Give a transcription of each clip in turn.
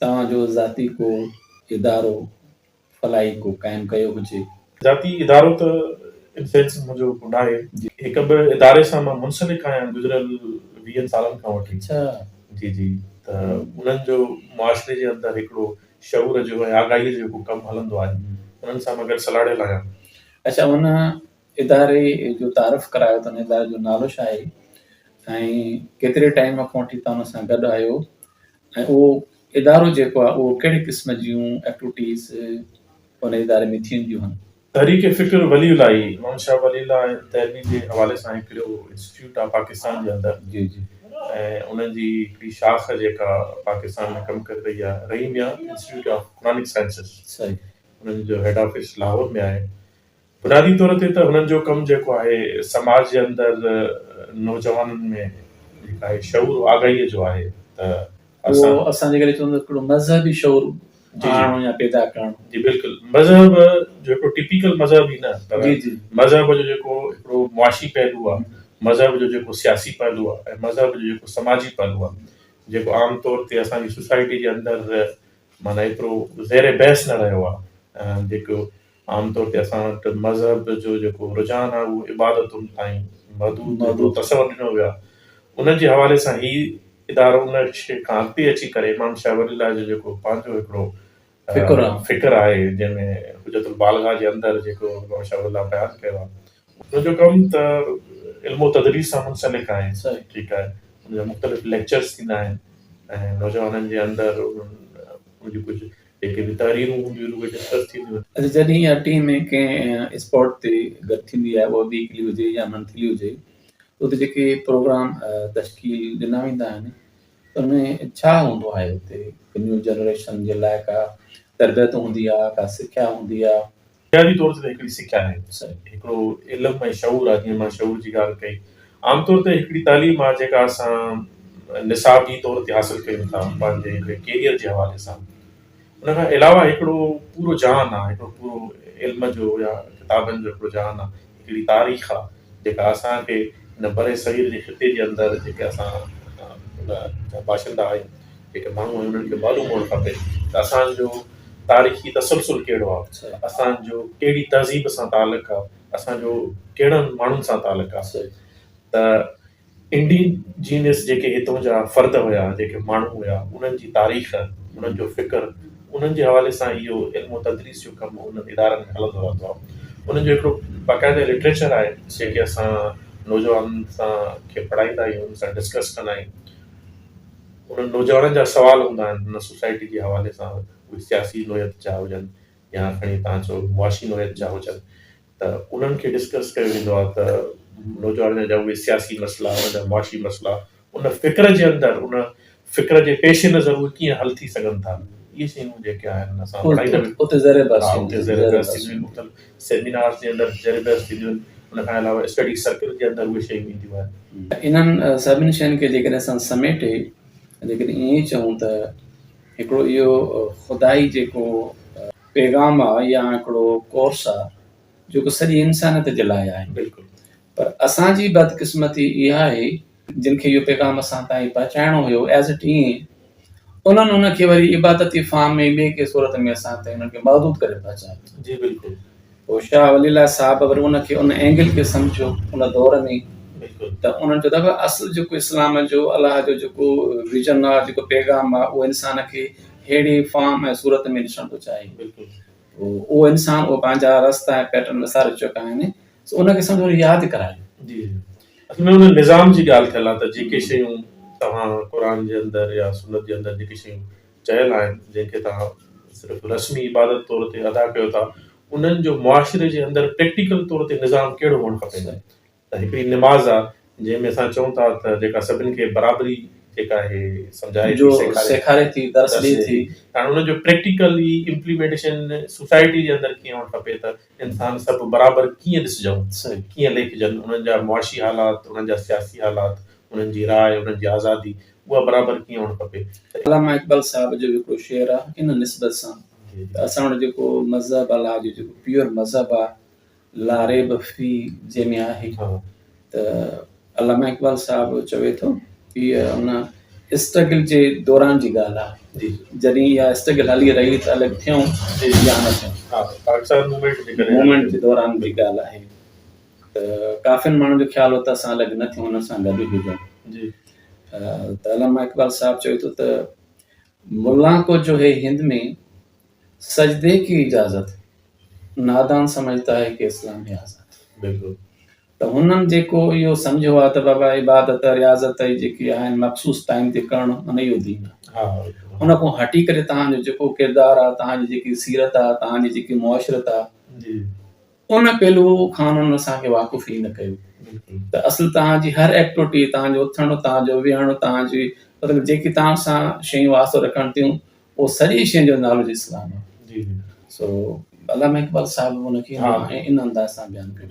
توهان جو ذاتي ڪو ادارو فلاحي ڪو قائم ڪيو هجي؟ ذاتي ادارو ته ان سينس منهنجو ڪو ناهي. هڪ به اداري سان مان منسلڪ آهيان گذريل ويهن سالن کان وٺي. جي جي ته انهن جو معاشري جي اندر هڪڙو شعور جو ۽ آگاهي جو ڪو ڪم هلندو آهي انهن سان مان گڏ سلهاڙيل آهيان. اڇا انهن اداري جو تعارف ڪرايو ته ان اداري جو نالو ڇا آهي ۽ ڪيتري ٽائيم کان وٺي توهان ان سان گڏ آهيو ۽ اهو ادارو جيڪو آهي اهو ڪهڙي قسم جون ايڪٽوٽيز ان اداري ۾ ٿينديون هن. تحريڪ فڪر ولي الاهي امام شاهه ولي الله تعلمي جي حوالي سان هڪڙو انسٽيٽيوٽ آهي پاڪستان جي اندر جي جي ۽ ان جي هڪڙي شاخ جيڪا پاڪستان ۾ ڪم ڪري رهي آهي Rahim Mian institute of Quranic sciences صحيح ان جو هيڊ آفيس لاهور ۾ آهي بنيادي طور تي ته هنن جو ڪم جيڪو آهي سماج جي اندر نوجوانن ۾ هڪ آهي شعور آگاهيء جو آهي ته اهو اسان جي ڪري چوندو هڪڙو مذهبي شعور آڻڻو يا پيدا ڪرڻ. جي بلڪل مذهب جو هڪڙو ٽيپيڪل مذهب ئي نه پر مذهب جو جيڪو هڪڙو معاشي پهلو آهي مذهب جو جيڪو سياسي پهلو آهي ۽ مذهب جو جيڪو سماجي پهلو آهي جيڪو عام طور تي اسان جي سوسائٽي جي اندر معنيٰ ايترو زير بحث نه رهيو آهي جيڪو عام طور تي اسان وٽ مذهب جو جيڪو رجحان آهي اهو عبادتن تائين محدود جيڪو تصور ڏنو ويو آهي ان جي حوالي سان هي ادارو ان شيء کان اڳتي اچي ڪري امام شاهه ولي الله جو جيڪو پنهنجو هڪڙو فڪر آهي جنهن ۾ حجت البالغه جي اندر جيڪو امام شاهه ولي الله بيان ڪيو آهي ان جو ڪم ته علم و تدريس سان منسلڪ آهي ٺيڪ آهي ان جا مختلف ليڪچرز ٿيندا آهن ۽ نوجوانن جي اندر ان جي ڪجهه جيڪي به تحريرون هونديون آهن اهي ڊسڪس ٿينديون آهن. اچا جڏهن اها ٽيم ڪنهن اسپاٽ تي گڏ ٿيندي آهي اها ويڪلي هجي يا منٿلي هجي اتي جيڪي پروگرام تشڪيل ڏنا ويندا آهن ان ۾ ڇا هوندو آهي اتي نيو جنريشن جي لاء ڪا تربيت هوندي آهي ڪا سکيا هوندي آهي بنيادي طور تي ته هڪڙي سکيا آهي ته سائين هڪڙو علم ۽ شعور آهي جيئن مان شعور جي ڳالهه ڪئي عام طور تي هڪڙي تعليم آهي جيڪا اسان نصابي طور تي حاصل ڪيون ٿا پنهنجي هڪڙي ڪيريئر جي حوالي سان ان کان علاوه هڪڙو پورو جهان آهي هڪڙو پورو علم جو يا ڪتابن جو هڪڙو جهان آهي هڪڙي تاريخ آ جيڪا اسان کي هن برصغير جي خطي جي اندر جيڪي اسان جا باشندا آهيون جيڪي ماڻهو آهيون انهن کي معلوم هئڻ کپي ته اسان جو تاريخي تسلسل ڪهڙو آ اسان جو ڪهڙي تهذيب سان تعلق آ اسان جو ڪهڙن ماڻهن سان تعلق آ ته انڊي جينس جيڪي هتون جا فرد هيا، جيڪي ماڻهو هيا، انهن جي تاريخ، انهن جو فڪر، انهن جي حوالي سان اهو علم و تدريس جو ڪم انهن ادارن ۾ هلندو رهندو آهي. انهن جو هڪڙو باقاعده لٽريچر آهي، جيڪي اسان نوجوان سان کي پڙهائيندا آهيون، انهن سان ڊسڪس ڪندا آهيون. انهن نوجوانن جا سوال هوندا آهن، انهن سوسائٽي جي حوالي سان اهي سياسي نوعيت جا هجن يا کڻي توهان چئو معاشي نوعيت جا هجن، ته انهن کي ڊسڪس ڪيو ويندو آهي ته نوجوانن جا اهي سياسي مسئلا انهن جا معاشي مسئلا ان فڪر جي اندر ان فڪر جي پيش نظر اهي ڪيئن حل ٿي سگهن ٿا اهي شيون جيڪي آهن اسان اتي زير بحث اتي زير بحث ٿينديون آهن مختلف سيمينارز جي اندر زير بحث ٿينديون آهن ان کان علاوه اسٽڊي سرڪل جي اندر اهي شيون اينديون آهن انهن سڀني شين کي جيڪڏهن اسان سميٽي جيڪڏهن ائين چئون ته هڪڙو اهو خدائي جيڪو پيغام آ يا هڪڙو ڪورس آ جيڪو سڄي انسانيت جي لاء آهي بلڪل پر اسان جي بدقسمتي اها آهي جن کي اهو پيغام اسان تائين پهچائڻو هيو ايز اٽ ايئن انهن ان کي وري عبادتي فارم ۾ ٻي ڪنهن صورت ۾ اسان تائين انهن کي محدود ڪري پهچايو جي بلڪل پوء شاهه ولي الله صاحب وري ان کي ان اينگل کي سمجهيو ان دور ۾ ته انهن چيو ته اصل جيڪو اسلام جو الله جو جيڪو ويزن آهي جيڪو پيغام آهي اهو انسان کي ههڙي فارم ۽ صورت ۾ ڏسڻ ٿو چاهي اهو انسان اهو پنهنجا رستا ۽ پيٽرن وساري چڪا آهن سو ان کي سمجهو ياد ڪرايو جي اصل ۾ ان نظام جي ڳالهه ٿيل آهي ته جيڪي شيون توهان قرآن جي اندر يا سنت جي اندر جيڪي شيون چيل آهن جن کي توهان صرف رسمي عبادت طور تي ادا ڪيو ٿا انهن جو معاشري جي اندر پريڪٽيڪل طور تي نظام ڪهڙو هئڻ کپي ته هڪڙي نماز آهي جنهن ۾ اسان چئون ٿا ته جيڪا سڀني کي برابري جيڪا آهي سمجهائي ٿي سيکاري ٿي درس ڏئي ٿي هاڻي انهن جو پريڪٽيڪلي امپليمينٽيشن سوسائٽي جي اندر ڪيئن هئڻ کپي ته انسان سڀ برابر ڪيئن ڏسجون ڪيئن ليکجن انهن جا معاشي حالات انهن جا سياسي حالات انهن جي راء انهن جي آزادي اها برابر ڪيئن هئڻ کپي ته. علامه اقبال صاحب جو هڪڙو شعر آ ان نسبت سان ته اسان وٽ جيڪو مذهب آ لا جو جيڪو پيور مذهب آ لا ريب في جنهن ۾ آهي ته علامه اقبال صاحب چوي ٿو هيء ان اسٽرگل جي دوران جي ڳالهه آ جڏهن اها اسٽرگل هلي رهي ته الڳ ٿيون يا نه ٿيون موومينٽ جي دوران جي ڳالهه آهي. ته ڪافين ماڻهن جو خيال هو ته اسان الڳ نه ٿيون انهن سان گڏ ئي هجون جي ته علامه اقبال صاحب چوي ٿو ته ملا ڪو جو هي هند ۾ سجدي ڪي اجازت نادان سمجھتا هي ڪي اسلام هي آزاد بلڪل ته هنن جيڪو اهو سمجھيو آهي ته بابا عبادت رياضت اي جيڪي آهن مخصوص ٽائيم تي ڪرڻ ان اهو دين آهي ان کان هٽي ڪري تهان جو جيڪو ڪردار آهي تهان جي جيڪي سيرت آهي تهان جي جيڪي معاشرت آهي ان پهلو کان هن اسان کي واقف ئي نه ڪيو ته اصل توهان جي هر ايڪٽوٽي، توهان جو اٿڻ، توهان جو ويهڻ، توهان جي مطلب جيڪي توهان سان شيون واسطو رکڻ ٿيون اهو سڄي شين جو نالو جي اسلام آهي. سو علامه اقبال صاحب ان کي ان انداز سان بيان ڪيو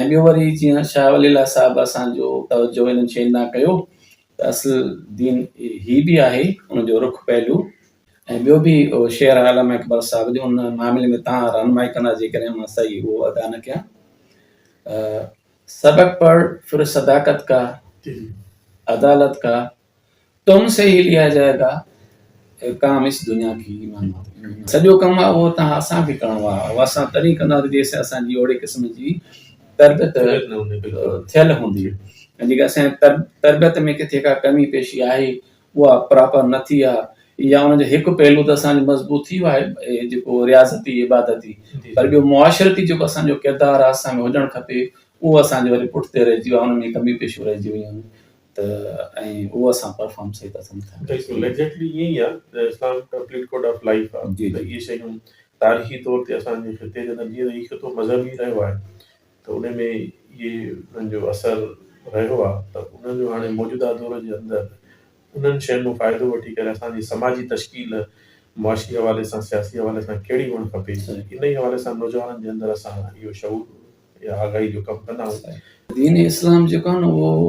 ۽ ٻيو وري جيئن شاهه ولي الله صاحب اسان جو توجهه انهن شين ڏانهن ڪيو ته اصل دين هي به آهي ان جو رخ پهلو ۽ ٻيو به اهو شعر آهي علامه اقبال صاحب جو ان معاملي ۾ تان رهنمائي ڪندا جيڪڏهن مان صحيح اهو ادا نه ڪيان سبق پڙ پھر صداقت کا عدالت کا تم سي هي ليا جائے گا ڪام اس دنيا کي سڄو ڪم آهي اهو تان اسان کي ڪرڻو آهي اهو اسان تڏهن ڪنداسين جيسين اسان جي اهڙي قسم جي تربيت ٿيل هوندي ۽ جيڪا اسان تربيت ۾ ڪٿي ڪا ڪمي پيشي آهي اها پراپر نه ٿي آهي يا ان جو هڪ پهلو ته اسان جو مضبوط ٿي ويو آهي اهي جيڪو رياضتي عبادتي پر ٻيو معاشرتي جيڪو اسان جو ڪردار آهي اسان ۾ هجڻ کپي اهو اسان جو وري پٺتي رهجي ويو آهي ان ۾ ڪمي پيشو رهجي ويون آهن ته ۽ اهو اسان پرفارم صحيح طرح سان نه ٿا ڪري سگهون. ايگزيڪٽلي ائين ئي آهي ته اسلام ڪمپليٽ ڪوڊ آف لائيف آهي جي، ته جي. اهي شيون تاريخي طور تي اسان جي خطي جي اندر جيئن هي خطو مذهبي رهيو آهي ته انهي ۾ ئي انهن جو اثر رهيو آهي ته انهن جو هاڻي موجوده دور جي اندر انهن شين مان فائدو وٺي ڪري اسان جي سماجي تشڪيل معاشي حوالي سان سياسي حوالي سان ڪهڙي هئڻ کپي انهي حوالي سان نوجوانن جي اندر اسان اهو شعور يا آگاهي جو ڪم ڪندا آهيون. دين اسلام جيڪو آهي نه اهو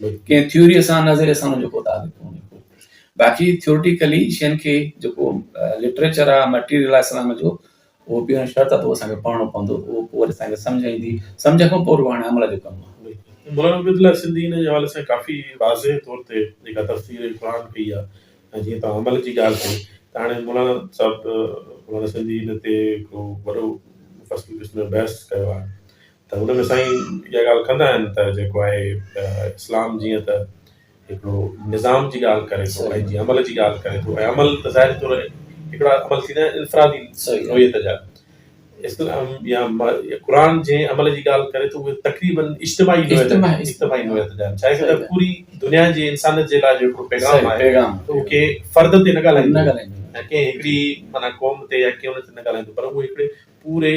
ڪنهن ٿيوريء سان نظريي سان ان جو ڪو تعلق ڪونهي ڪو. باقي ٿيورٽيڪلي شين کي جيڪو لٽريچر آهي مٽيريل آهي اسلام جو اهو بنا شرط اٿو اسان کي پڙهڻو پوندو اهو پوء وري اسان کي سمجهه ايندي سمجهه کان پوء رڳو هاڻي عمل جو ڪم آهي. مولانا عبيد الله سنڌي ان جي حوالي سان ڪافي واضح طور تي جيڪا تفسير قرآن ڪئي آهي ۽ جيئن توهان عمل جي ڳالهه ڪئي ته هاڻي مولانا صاحب مولانا سنڌي ان تي هڪڙو وڏو مفصل قسم جو بحث ڪيو آهي ته ان ۾ سائين اها ڳالهه ڪندا آهن ته جيڪو آهي اسلام جيئن ته هڪڙو نظام جي ڳالهه ڪري ٿو ۽ جي عمل جي ڳالهه ڪري ٿو ۽ عمل ته ظاهري طور هڪڙا عمل ٿيندا آهن انفرادي نوعيت جا اسلام يا قرآن جي عمل جي ڳالهه ڪري ٿو اهي تقريبن اجتماعي نوعيت اجتماعي نوعيت جا آهن ڇا ته پوري دنيا جي انسانيت جي لاء جو هڪڙو پيغام آهي اهو ڪي فرد تي نه ڳالهائيندو نه ڳالهائيندو ڪنهن هڪڙي معنيٰ قوم تي يا ڪنهن تي نه ڳالهائيندو پر اهو هڪڙي پوري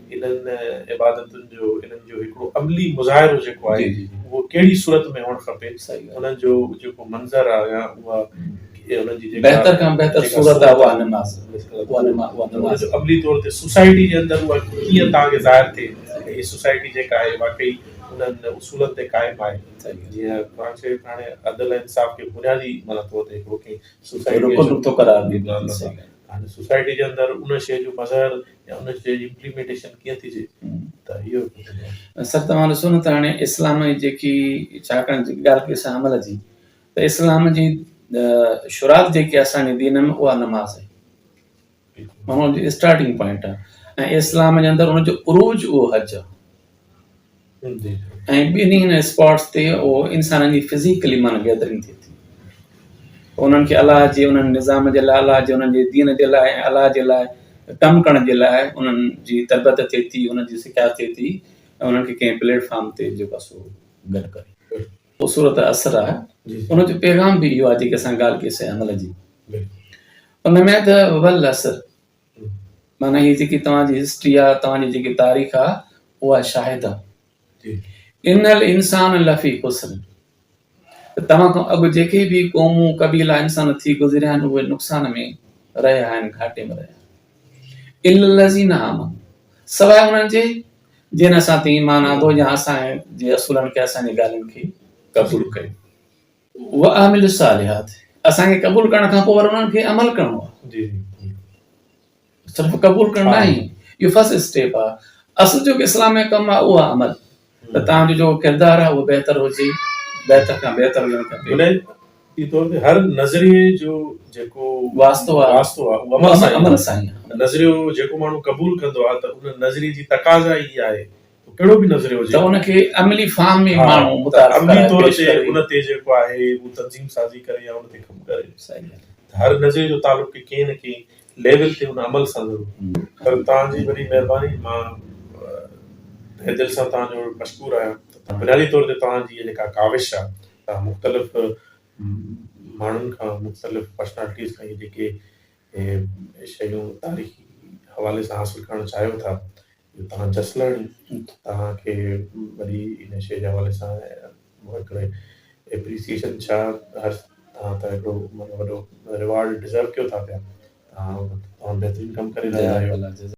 انهن عبادتن جو انهن جو هڪڙو عملي مظاهرو جيڪو آهي اهو ڪهڙي صورت ۾ هئڻ کپي انهن جو جيڪو منظر آهي يا اها انهن جي جيڪا بهتر کان بهتر صورت آهي اها نماز اها جو عملي طور تي سوسائٽي جي اندر اها ڪيئن تان کي ظاهر ٿئي هي سوسائٽي جيڪا آهي واقعي انهن اصولن تي قائم آهي جيئن قرآن شريف هاڻي عدل ۽ انصاف کي بنيادي معنيٰ طور تي هڪڙو ڪنهن سوسائٽي رڪن رکو قرار ڏيندو سوسائٽي جي اندر ان شيء جو مظهر يا ان جي امپليمينٽيشن ڪيئن ٿيجي ته اهو سر توهان ڏسو نه ته هاڻي اسلام جي جيڪي ڇاڪاڻ جي ڳالهه ڪئي سان عمل جي ته اسلام جي شروعات جيڪي اسان جي دين ۾ اها نماز آهي ماڻهو جي اسٽارٽنگ پوائنٽ آهي ۽ اسلام جي اندر ان جو عروج اهو حج ۽ ٻنهي هن اسپاٽس تي اهو انسانن جي فزيڪلي معنيٰ گيدرنگ ٿئي ٿي ته انهن کي الله جي انهن نظام جي لاء الله جي انهن جي دين جي لاء ۽ الله جي لاء ڪم ڪرڻ جي لاء انهن جي تربت ٿئي ٿي انهن جي سکيا ٿئي ٿي ۽ انهن کي ڪنهن پليٽ فارم تي جيڪو آهي سو گڏ ڪري اهو سورت اسر آهي ان جو پيغام به اهو آهي جيڪي اسان ڳالهه ڪئي سي عمل جي ان ۾ ته والعصر معنيٰ هي جيڪي توهان جي هسٽري آ توهان جي جيڪي تاريخ آ اها شاهد آ ان الانسان لفي خسر ته توهان کان اڳ جيڪي به قومون قبيلا انسان ٿي گذريا آهن اهي نقصان ۾ رهيا آهن گهاٽي ۾ رهيا آهن الا الذين آمنوا سواء انهن جي جن اسان تي ايمان آندو يا اسان جي اصولن کي اسان جي ڳالهين کي قبول ڪيو واعملوا الصالحات اسان کي قبول ڪرڻ کان پوء وري انهن کي عمل ڪرڻو آ جي جي صرف قبول ڪرڻ ها ناهي اهو فرسٽ اسٽيپ آ اصل جيڪو اسلام ۾ ڪم آ اهو آ عمل ته ھمم تنهنجو جيڪو ڪردار آ اهو بهتر هجي بهتر کان بهتر هجڻ کپي بنيادي طور تي هر نظريي جو جيڪو واسطو آ واسطو آ اهو عمل اهو سان ئي عمل سان ئي آ آ نظريو جيڪو ماڻهو قبول ڪندو آ ته ان نظريي جي تقاضا ئي اها آهي ڪهڙو به نظريو هجي ته ان کي عملي فارم ۾ ماڻهو متعارف ڪرائي عملي طور تي ان تي جيڪو آهي هو تنظيم سازي ڪري يا ان تي ڪم ڪري صحيح ڳالهه ته هر نظريي جو تعلق به ڪنهن نه ڪنهن ليول تي ان عمل سان ضرور پر توهان جي وڏي مهرباني مان تهه دل سان توهان جو مشڪور آهيان ته بنيادي طور تي توهان جي جيڪا ڪاوش آهي توهان مختلف ماڻهن کان مختلف پرسنالٽيز کان جيڪي اهي شيون تاريخي حوالي سان حاصل ڪرڻ چاهيو ٿا جو توهان جسلڻ توهان کي وري ان شيء جي حوالي سان هڪڙي اپريسيئيشن ڇا هر توهان ته هڪڙو معنيٰ وڏو ريوارڊ ڊزرو ڪيو ٿا پيا توهان بهترين ڪم ڪري رهيا آهيو